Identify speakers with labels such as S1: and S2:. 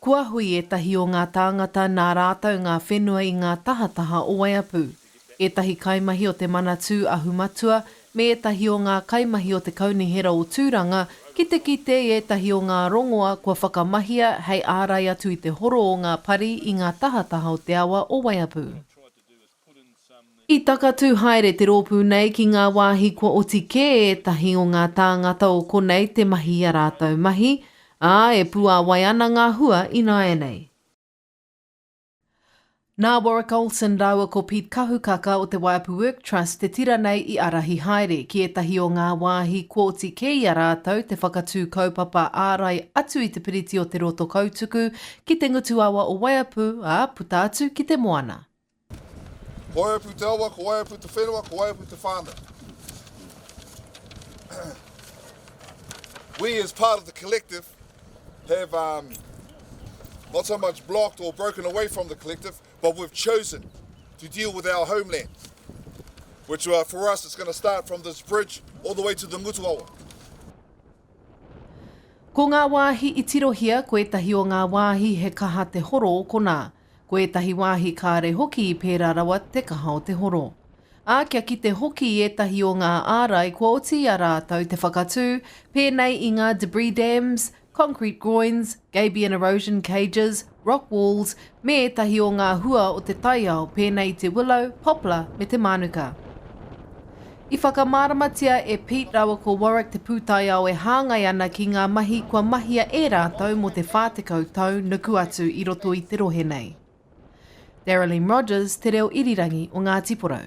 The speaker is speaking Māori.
S1: Kua hui ētahi o ngā tāngata nā rātou ngā whenua i ngā tahataha o Waiapu. Ētahi kaimahi o te Manatū Ahu Matua me ētahi o ngā kaimahi o te Kaunihera o Tūranga ki te kite i ētahi o ngā rongoa kua whakamahia hei ārai atu i te horo o ngā pari i ngā tahataha o te awa o Waiapu. I takatū haere te rōpū nei ki ngā wāhi kua oti kē ētahi o ngā tāngata o konei te mahi i a rātou mahi, ā, e puāwai ana ngā hua ināianei. Nā Warwick Olsen rāua ko Pete Kahukaka o te Waiapu Work Trust te tira nei i ārahi haere ki ētahi o ngā wāhi kua oti kē i a rātou te whakatū kaupapa ārai atu i te piriti o Te Rotokautuku ki te ngutuawa o Waiapu, ā, puta atu ki te moana.
S2: Ko wai apu te awa, ko wai apu te whenua, ko wai apu te whānau. We as part of the collective have um, not so much blocked or broken away from the collective, but we've chosen to deal with our homeland, which uh, for us is going to start from this bridge all the way to the Ngutuawa.
S1: Ko ngā wāhi i tirohia, ko ētahi o ngā wāhi he kaha te horo o konā. Ko ētahi wāhi kāre hoki i pērā rawa te kaha o te horo. Ā, kia kite hoki i ētahi o ngā ārai kua oti i a rātou te whakatū, pēnei i ngā debris dams, concrete groins, gabion erosion cages, rock walls, me ētahi o ngā hua o te taiao pēnei i te willow, poplar me te mānuka. I whakamāramatia e Pete rāua ko Warwick te pūtaiao e hāngai ana ki ngā mahi kua mahia e rātou mō te 40 tau nuku atu i roto i te rohe nei. Darylene Rogers, Te Reo Irirangi o Ngāti Porou.